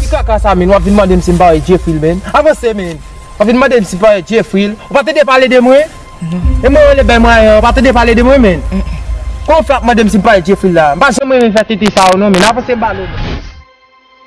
Ki kaka sa menn wap vin mande m si m pare Jeffrey l menn avanse menn wap vin mande m si m pare Jeffrey l ou pa tande pale de mwen e mwen rele bèy mwen an ou pa tande pale de mwen menn kouman w fè ap mande m si m pare Jeffrey l la m pa janm renmen fè tenten sa yo non menn avanse m pale w menn.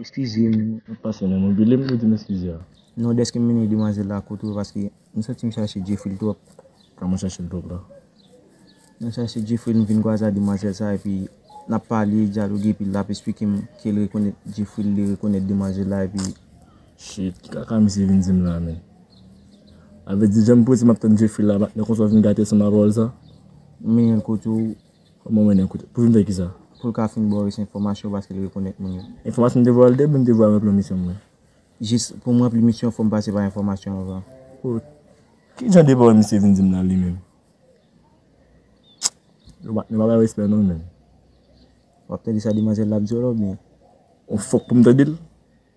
Eskize m, mwen pase nan mobile m pou di m eskize a. Non, dèske m mennen demwazèl la kote ou paske m santi m chache Djefril twòp. Kòman w chache l twòp la? Mwen chache Djefril, m vin kwaze ak demwazèl sa epi n ap pale, dyaloge epi l ap esplike m ke l rekonèt Djefril, li rekonèt demwazèl la epi. Shit ki kaka misye vin dim la menn. Avè di janm prese map tann Jeffrey la matnè konsa w vin gate san ma pawòl sa. Ou mennen kote w. Ou mwen mennen kote. Pou vin fè kisa? Pou l ka fin ba w rès enfòmasyon paske l rekonèt moun yo. Enfòmasyon m te vòlè epi m te vwa ranpli misyon mwen. Jis pou m ranpli misyon fò m pase pa enfòmasyon anvan. Oh ki jan de pawòl misye vin dim la li menm. Yo matnè pa bay respè non menn. Wap tande sa demanzèl la ap di w la oubyen? Ou fòk pou m tande l?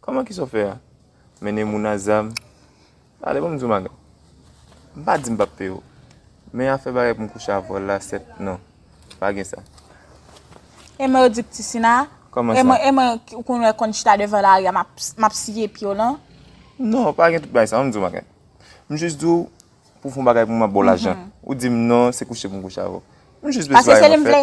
Kòman kisa w fè a? Mennen moun a zam? Tande pou m di w madanm. M pa di m pap peye w. Men afè bagay pou m kouche avè w la sèt non. Pa gen sa. E mwen yo di pti sina? Kòman sa? E mwen ou konn wè konn chita devan lari a m ap siye pye w lan? Non, pa gen tout bagay sa. An m di w bagay. M jis di w pou w fè yon bagay pou m m ap ba w lajan. Ou di m non se kouche pou m kouche avè w. M jis bezwen yon fè. Pase se li m vle.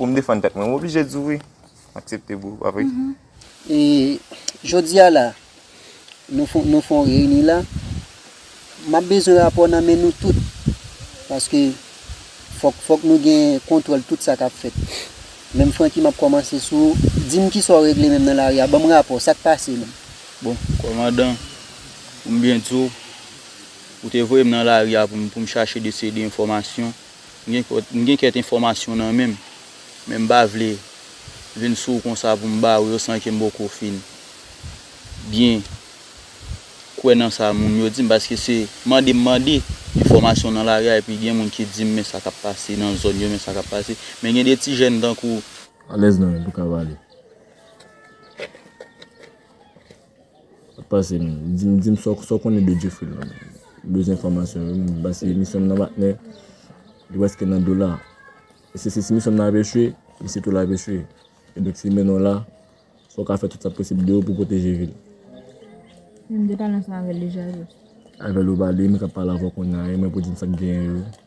Pou m defann tèt mwen m oblije di w wi. M aksepte bro, pa vre? E jodi a la, nou fon nou fon reyini la, m ap bezwen rapò nan men nou tout. Paske fòk fòk nou gen kontwòl tout sa k ap fèt. Menm Francky m ap kòmanse sou ou, di m kisa w regle menm nan lari a? Ban m rapò, sa k pase menm? Bon kòmandan, pou m byen di w, ou te voye m nan lari a pou m pou m chache de seri de enfòmasyon. M gen kèk enfòmasyon nan menm, men m pa vle vin sou ou konsa pou m ba ou yo san ke m poko fin byen kwè nan sa moun yo di m, paske se mande m mande enfòmasyon nan lari a epi gen moun ki di m men sa k ap pase nan zòn yo, men sa k ap pase. Men gen de ti jèn tankou. Alèz nan menm pou kavale. Pase m di m sa w konnen de Djefri la. M bezwen enfòmasyon yo m pase misyon m nan patnè li prèske nan dola. Se si misyon m nan ap echwe, misyon tou la ap echwe. E donk si yo mennen w la, fò w ka fè tout sa posib de ou pou w pwoteje vi l. Menm de pale ansanm avè l deja jis. Avè l ou pale, m ka pale avè w kounya e mwen pou w di m sa k genyen yo.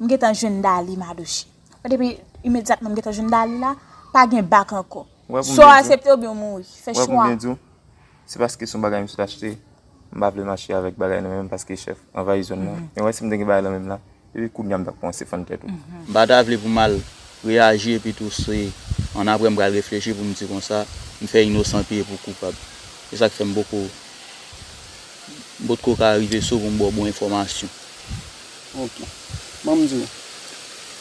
M gentan jwenn Daly Madoche. Wè depi imedyatman m gentan jwenn Daly la, pa gen back ankò. Swa w asepte oubyen w mouri. Fè chwa. Wè pou m byen di w, se paske se yon bagay m sot achte, m pa vle mache avèk bagay nan men m paske chèf anvayi zòn nan. Men wè si m te gen bagay lan men m la, depi kounya m t ap kòmanse fann tèt ou. M pa ta vle pou m al reyaji epitou se annapre m pral reflechi pou m di konsa, m fè inosan peye pou koupab. Se sa k fè m poko, m potko ka rive sou pou m ba w bon enfòmasyon. Ok. Banm di w.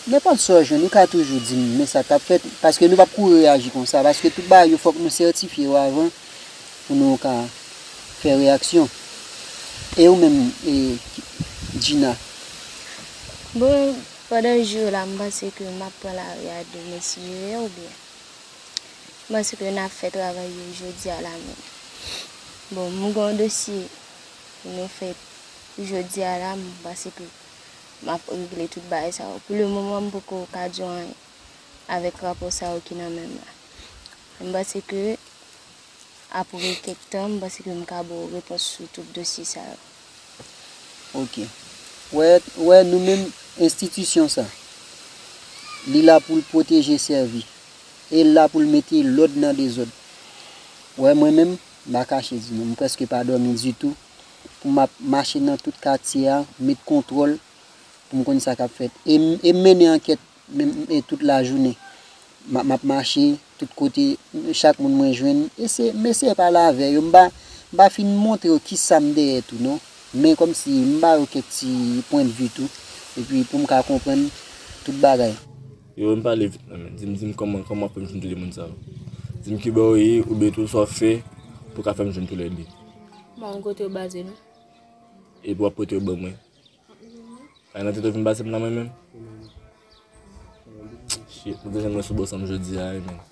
Nenpòt sa w jwenn ou ka toujou di m men sa k ap fèt paske nou p ap kouri reyaji konsa paske tout bagay yo fòk nou sètifye yo avan pou nou ka fè reyaksyon. E ou menm Djina? Bon pandan jou yo la m panse ke m ap pran lari a de mesye yo oubyen m panse ke n ap fè travay yo jodi a la menm. Bon m gen yon dosye pou nou fè. Pou jodi a la, m panse ke m ap regle tout bagay sa yo. Pou le moman, m poko ka di w anyen avèk rapò sa yo ki nan men m la. Men m panse ke apre kèk tan, m panse ke m ka ba w repons sou tout dosye sa yo. Ok. Wè, wè nou menm enstitisyon sa, li la pou l pwoteje, sèvi. E l la pou l mete lòd nan dezòd. Wè mwen menm, m pa kache di nou, m prèske pa dòmi ditou. pou m ap mache nan tout katye a, met kontwòl pou m konn sa k ap fèt. E m e m mennen ankèt menm e tout lajounen. M ap m ap mache tout kote, chak moun mwen jwenn, ese m eseye pale avè yo. M pa m pa fin montre yo ki sa m dèyè tou non. Men kòmsi m ba yo kèk ti pwendvi tou epi pou m ka konprann tout bagay. Yo menm pale vit nan men. Dim dim kòman kòman wap fèm jwenn tou 2 moun sa yo. Dim kibò ou ye oubyen tou sa wap fè pou ka fèm jwenn tou lè 2. Ba mwen kotew baze nou. Epi wap pote yo ban mwen. Sa nan tèt ou vin basem nan mwen menm. Shit, mwen bezwen mwen sou bò sam jodia wi menn.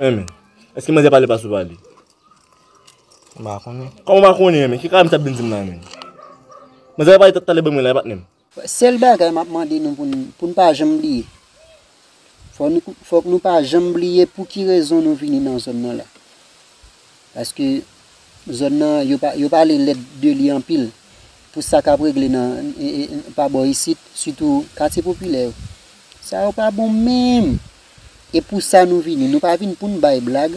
Hein men. Eske manzè pale pas ou pale? M pa konnen. Kòman w pa konnen men? Ki kalam t ap vin di m la menm? Manzè pa pale tèt talè ban mwen la patnè m. Sèl bagay m ap mande nou pou n pa janm bliye, fòk nou pa janm bliye pou ki rezon nou vini nan zòn nan la. Paske zòn nan yo pale lèd de li anpil pou sa k ap regle nan pa bò isit sitou katye popilè yo. Sa yo pa bon menm. E pou sa nou vini. Nou pa vin pou n bay blag.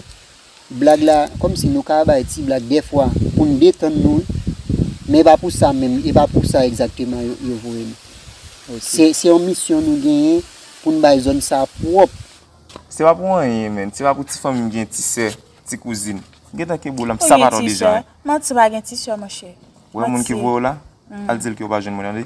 Blag la, kòm si nou ka bay ti blag dèfwa pou n detann nou wi. Men e pa pou sa menm, e pa pou sa egzakteman yo voye nou. Se yon misyon nou genyen pou n bay zòn sa pwòp. Se pa pou anyen menn. Se pa pou ti fanmi m gen ti sè, ti kouzin. M gen tan kebou la, m sapat w deja. Manti, ou pa gen ti sè monchè. Ou wè moun ki voye w la? Al di l ke ou pa jwenn mwen tande.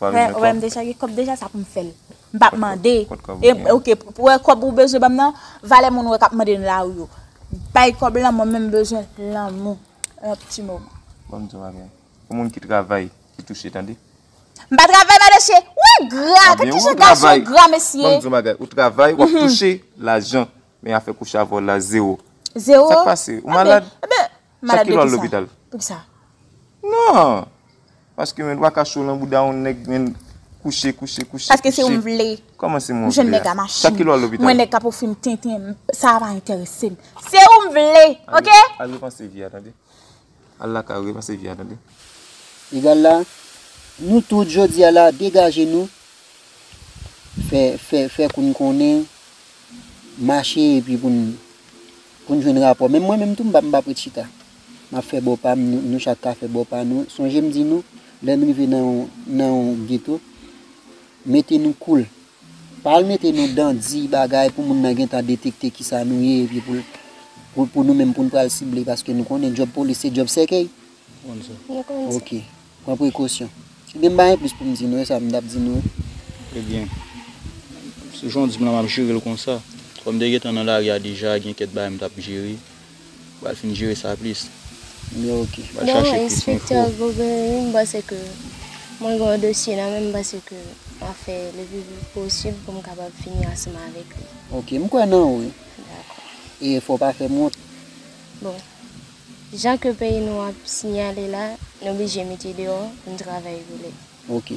Pare men kòb. Deja gen kòb deja sa pou m fè l. M pa mande. Kot kòb ou gen an. Ok pou wè kòb ou bezwen ban m nan valè moun wè k ap mande nan lari yo. Bay kòb lan mwen menm m bezwen lanmou. Yon ti moman. Bon m di w yon bagay. Pou moun ki travay ki touche tande. M pa travay Madoche. Ou engra. Gad ki jan gason engra mesye. Bon m di w yon bagay. Ou travay w ap touche lajan. Men afè kouche avè w la zewo. Zewo. Sa k pase? Ou malad? Malad de kisa? Pou kisa? Non! Paske men waka cho nan bouda yon nèg men kouche, kouche, kouche. Paske se yon m vle. Koman se m vle? Jèn nèg a machin. Sa ki lwa lopital? Mwen nèg ka pou fim tenten. Sa va enteresem. Se yon m vle. Ok? Al repanse vi a tande. Al la ka repanse vi a tande. Egal la, nou tout jodi a la degaje nou fè, fè, fè kou n konnen, mache epi pou n. Pou n jwenn rapò. Menm mwen menm tou m pap ret chita. M ap fè bò pa m, nou chak ka fè bò pa nou. Sonje m di nou, lè n rive nan yon geto, mete nou koul. Pa al mete nou dan di bagay pou moun nan gen tan detekte kisa nou ye epi pou nou menm pou n pral sible paske nou konnen djòb polis se djòb sèkèy. Yo konn sa. Ok. Pran prekosyon. Si te m pa gen plis pou m di nou e sa m t ap di nou e. E byen. Sou jan w di m la m ap jere l konsa. Kòm m te gentan nan lari a deja gen kèk bagay m t ap jere. M pral fin jere sa plis. Ebyen ok. M pral chache plis enfo. Bon enspektè Gobery m panse ke mwen gen yon dosye nan men m m panse ke m ap fè le pi vit posib pou m kapab fini ansanm avèk li. Ok. M kwè nan ou. Dakò. E fò w pa fè m wont. Bon. Jan ke peyi nou ap sinyale la nou blije mete deyo poun travay rele. Ok.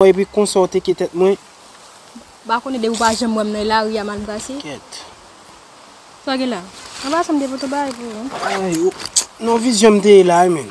Mwen epi konsa w teke tèt mwen. Ba konnen depi w pa janm wè m nan e lari a mal brase. Kèt. Sa gen la? Anba sa m te pote bagay pou ou. Ay, non vizyon m te la wi menn.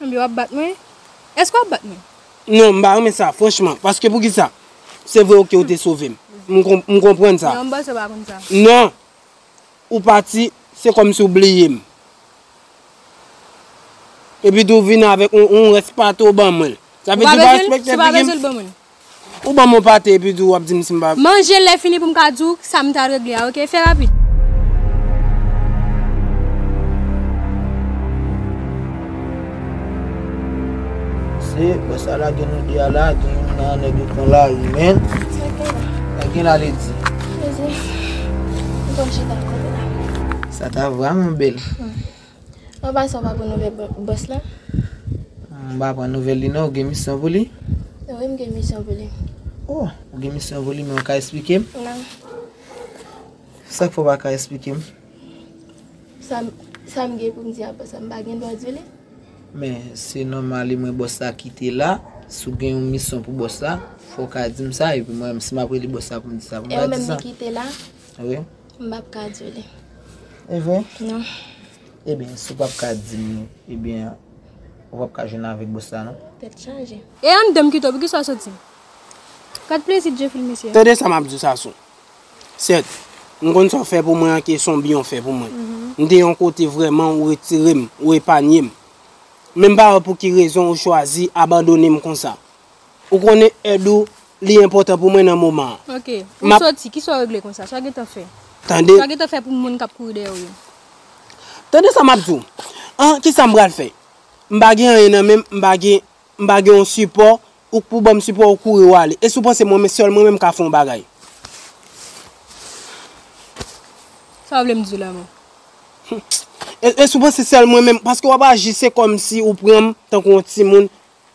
Anmyy wap bat mwen? Eske wap bat mwen? Non m pa renmen sa franchman paske poukisa se vre ok ou te sove m m konprann sa Yon bòs yo pa konn sa non ou pati se kòmsi ou bliye m epitou vin avèk yon rès pate ou ban mwen l sa vle di ou pa respekte figi m Si w pa bezwen l ban mwen l Ou banm yon pate epi tou wap dim sim pa. Manjel lè fini poum ka diw sam tal regle a ok fè rapid. Se wè sa lage nou 2 a la gen youn nan nèg yo pran lari menn. Sa gen la li di. Sa ta vrèman bèl. Mwen pa sanw pa pran nouvel boss la. Mwen pa pran nouvel li non ou gen misyon pou li. Wi m gen misyon pou li. Oh ou gen misyon pou li men ou ka esplikem. Nan. Sak fè ou pa ka esplikem. Sam gen poum di a boss la m pa gen dwa di li. Men se nòmal li mwen boss la kite la si ou gen yon misyon pou boss la fòw ka dim sa epi mwen menm si map rele boss la poum di sa poum pa di sa. E ou menm li kite la. Wi. M pap ka di w li. E vre? Non. Ebyen, si w pap ka di m li, ebyen, ou pap ka jwenn avèk bòs la non. Tèt chaje. E anndan m kite w, poukisa w soti? Gad plezi Djefil mesye. Tande sa m ap di w Sassou. Sèt, m konn sa w fè pou mwen an ke s on byen w fè pou mwen. M te yon kote vrèman ou retire m, ou epanye m. Men m pa wè pou ki rezon ou chwazi abandone m konsa. Ou konnen èd ou li enpòtan pou mwen nan moman an. Ok. Ou soti, kisa w regle konsa? Sa w gentan fè? Tande. Sa w gentan fè pou moun k ap kouri dèyè w yo? Tande sa m ap di w. An, kisa m pral fè? M pa gen anyen nan men m, m pa gen, m pa gen yon sipò, ou k pou ban m sipò, ou kouri ou ale. E si w panse mwen menm, sèl mwen menm m ka fè yon bagay? Sa w vle m di w la menm? E si w panse sèl mwen menm, paske w ap aji se kòmsi ou pran m tankou yon timoun,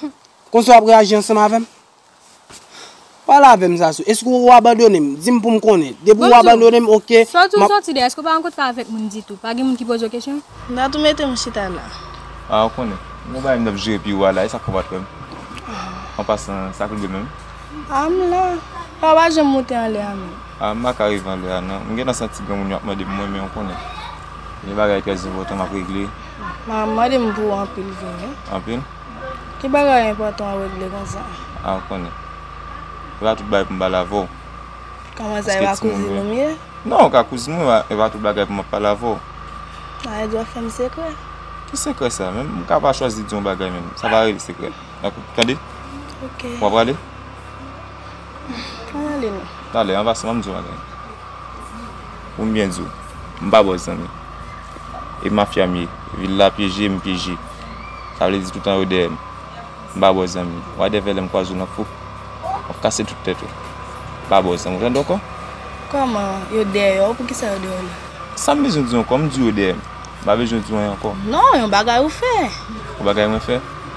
Humm konsa wap reaji ansanm avèm? Pale avèm Sasou, eske ou abandonem? Dim poum konnen. Depi ou abandonem ok map. Sot ou soti dèyè eske ou pa rankontre pa avèk moun ditou? Pa gen moun ki poze ou kesyon? Dat ou mete m chita la. Ah ou konnen. Gon bagay mtap jere pi ou a la e sa fèw pat wèm. An pasan sak rive menm? Ah m la. Pwa pa janm moute anlè a menm. Ah m paka rive anlè a nan. M gentan santi granmoun yo ap mandem mwen men ou konnen. Gen bagay trè enpòtan map regle. Ma mande m pou anpil vini. Anpil? Ki bagay enpòtan wap regle konsa? A ou konnen. E pa tout bagay pou m pale avè w. Kòman sa e pa kouzin ou m ye? Non ou ka kouzin mwen e pa tout bagay pou map pale avè w. A e di wap fè m sekrè? Ki sekrè sa menm? M ka pa chwazi di yon bagay menm. Sa pa rele sekrè. Tande? Ok. Wap prale? An ale non. Talè an pase wap di yon bagay. Pou m byen di w, m pa bòs zanmi. E mafya m ye. Vil la pyeje, m pyeje. Sa vle di toutan yo dèyè m. M pa bòs zanmi. Wade vè lè m kwaze w nan fou. Wap kase tout tèt ou. M pa bòs zanmi. Ou tande w ankò? Kòman yo dèyè w? Poukisa yo dèyè w la? Sa m bezwen di w ankò? M di w yo dèyè m. M pa bezwen di w anyen ankò. Non, yon bagay ou fè. Yon bagay mwen fè?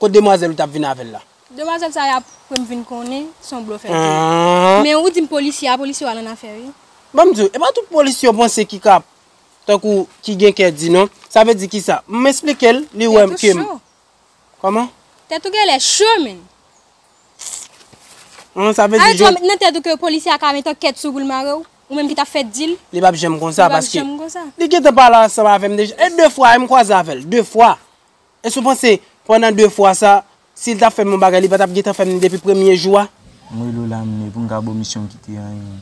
Kot demwazel ou tap vin avel la. Demwazel sa yap fem vin konnen son blofè vre. Men ou dim polisye a polisye wa nan afè wi. Banm diw epa tout polisye ou panse ki ka tankou ki gen kè di non sa vle di kisa m esplikel li wèm kem kòman. Tèt ou genlè cho menn. An sa vle di. Alèt wè met nan tèt ou ke polisye a ka met ankèt sou ou poul marew ou menm ki tap fè dil. Li pap janm konsa paske li gentan pale ansanm avèm deja e de fwa em kwaze avèl de fwa Èske w panse pandan 2 fwa sa, si l ta fè m yon bagay li pa t ap gentan fè m ni depi premye jou a? M rele w la Mne pou m ka ba w misyon m kite anyen.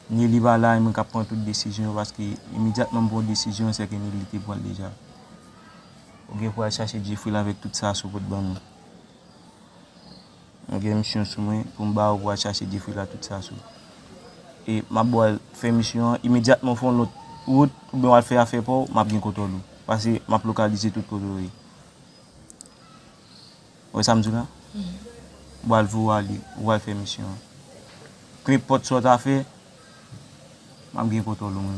Neli pa la e mwen k ap pran tout desizyon yo paske imedyatman m pran yon desizyon se ke Neli te pran l deja. Ou gen pou w al chache Djefril avèk tout sa Aso pot ban nou. Mwen gen misyon sou mwen pou m ba yo pou al chache Jefri la tout sa sou. E m ap ba w al fè misyon an, imedyatman w fè yon lòt wout oubyen w al fè afè pa w, m ap gen kontwòl ou. Pase m ap lokalize tout kote w ye. Ou wè sa m di w la? M pral voye w ale, ou al fè misyon an. Penenpòt sa w ta fè, m ap gen kontwòl ou.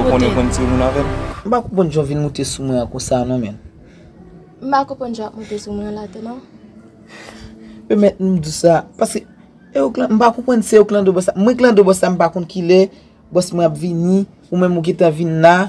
Ou konn yo konn timoun avèm. M pa konprann jan w vin moute sou mwen an konsa non menn. M pa konprann jan w ap moute sou mwen an la tou non. Pèmèt m di w sa, paske e ou klan, m pa konprann se ou klandre bòs la. Mwen klandre bòs la m pa konn kilè bòs mwen ap vini, ou menm ou gentan vin la.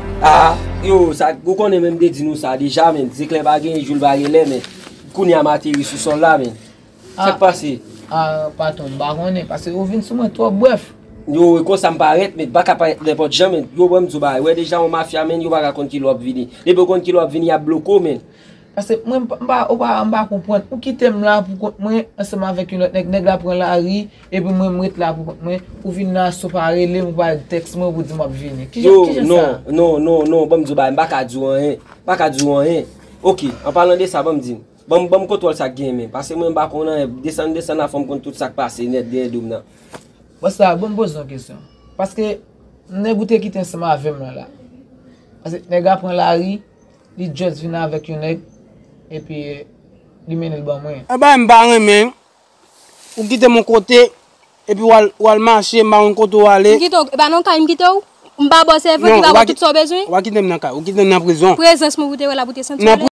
Aa yo sa ou konnen menm te di nou sa deja menn zeklè pa gen jou l pa gen lè menn kounya m ateri sou sòl la menn sak pase Aa patron m pa konnen pase ou vin sou mwen twòp brèf. Yo e konsa m parèt menn m paka parèt nenpòt jan menn yo banm di w bagay wè deja yon mafya menn yo paka konn kilè w ap vini depi yo konn kilè w ap vini y ap bloke w menn Pase mwen mpa ou pa mpa konprann ou kitem la pou kont mwen ansanm avèk yon lòt nèg nèg la pran lari epi mwen mret la pou kont mwen ou vin nan aso pa relem ou pa tèks mwen pou dim wap vini kijan kijan sa non non non non banm di w bagay mpaka di w anyen mpaka di w anyen ok anpalan de sa banm di banm banm kontwòl sak gen men pase mwen mpa konn anyen desann desann la fòm konn tout sak pase nèt dèyè dom nan. Bon sa bon poze yon kesyon paske nèg ou te kite ansanm avèm lan la pase nèg la pran lari. Li just vin avek yon neg epi li mennenl ban mwen. Yon bagay m pa renmen, ou kitem yon kote epi wal mache m pa konn kote ou ale. M kite w, e pa nan kay m kite w? M pa ba w sèvant ki pa ba w tout sa w bezwen? Non, ou pa kitem nan kay, ou kitem nan prizon. Prezans mwen pou te wè la pou te santi w alèz?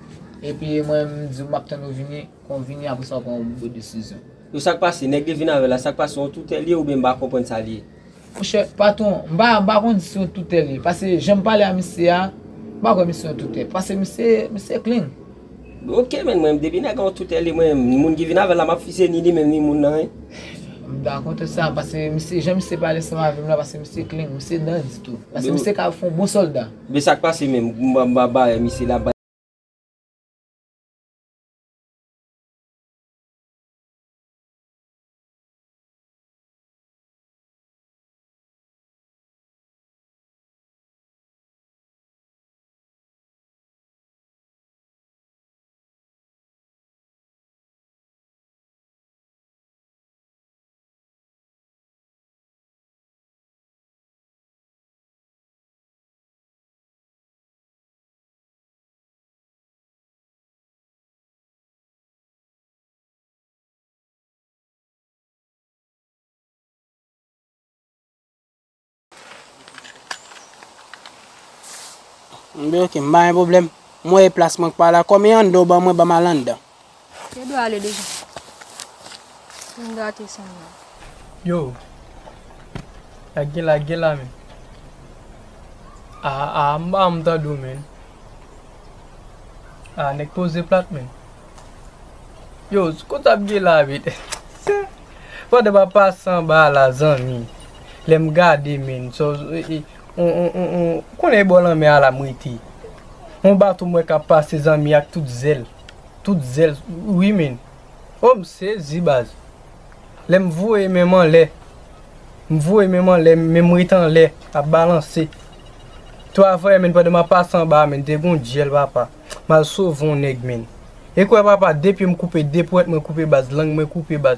Epi mwen m diw map tann ou vini, kon w vini apresa w pran yon bon desizyon. Yo sak pase, nèg de vin avè la sak pase yon toutè liye oubyen m pa konprann sa liye. Monchè patron m pa m pa konn si yon toutè liye pase janm pale a misye a m pa kwè misye yon toutè pase misye misye clean. Ok menn mwen menm depi nèg an yon toutè liye mwen menm moun ki vin avèl la map fize ni li menm ni moun nan hein. M dakò tout sa pase misye jan misye pale ansanm avèm la pase misye clean misye dandy tou pase misye ka fon bon solda. Men sak pase menm m pa bare misye la. Mwen ok, m pa gen pwoblèm. M wè e plas mwen k pa la kò men anndan w ban mwen ban m al anndan. Yo dwe ale deja. Fin gate san nan. Yo! La gen la gen la men. Ah ah m pa janm tande w menn. Ah nèg poze plat menn. Yo kot ap gen la menn. Sè! Fòde pa pase anba a la zanmi. Lè m gade menn. Sò e on on on on. Konnen e bò lanmè a la m rete. On bato m wè k ap pase zanmi ak tout zèl. tout zèl wi min oh m sezi baz lè m voye men m anlè m voye men m anlè men m ret anlè ap balanse tou avanyè min pandan m ap pase anba min te gon dyèl papa m al sove yon nèg min e kwè papa de pye m koupe de pwent mwen koupe baz lang mwen koupe baz.